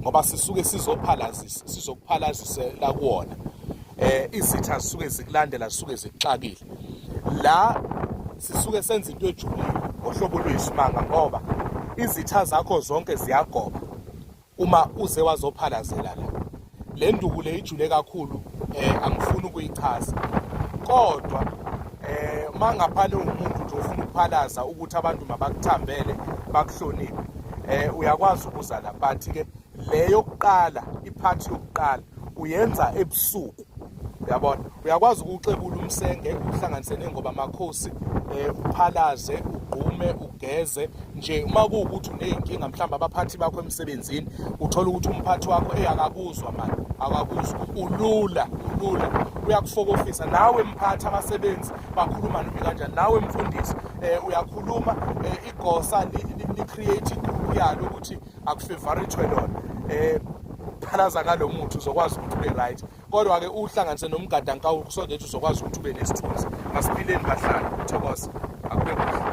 ngoba sisuke sizophalazisa sizokuphalazisela kuwona eh izitha zisuke zikulandela zisuke zikuxakile la sisuke senza into ejulile ngohlobo lweyisimanga ngoba izitha zakho zonke ziyagoba uma uze wazophalazela la le nduku le ijule kakhulu eh angifuni ukuyichaza kodwa eh uma ngaphana ungumuntu nje ufuna ukuphalaza ukuthi abantu mabakuthambele bakuhloniphe eh uyakwazi ukuza la but ke le yokuqala iphathi yokuqala uyenza ebusuku uyabona uyakwazi ukuxebula umsenge uhlanganise nengoba amakhosi eh uphalaze ugqume ugeze nje uma kuwukuthi uney'nkinga mhlawumbe abaphathi bakho emsebenzini uthole ukuthi umphathi wakho eyi akakuzwa mani akakuzwa ulula ulula uyakufokofisa nawe mphathi abasebenzi bakhuluma nami kanjani nawe mfundisi um uyakhuluma um igosa li-create igrupu yalo ukuthi akufavorithwe lona um phalaza ngalo muthi uzokwazi ukuthi ube right kodwa-ke uhlanganise nomgadankawu kusonde ukuthi uzokwazi ukuthi ube nesithunzi asiphileni bahlala thokoza akube kuhle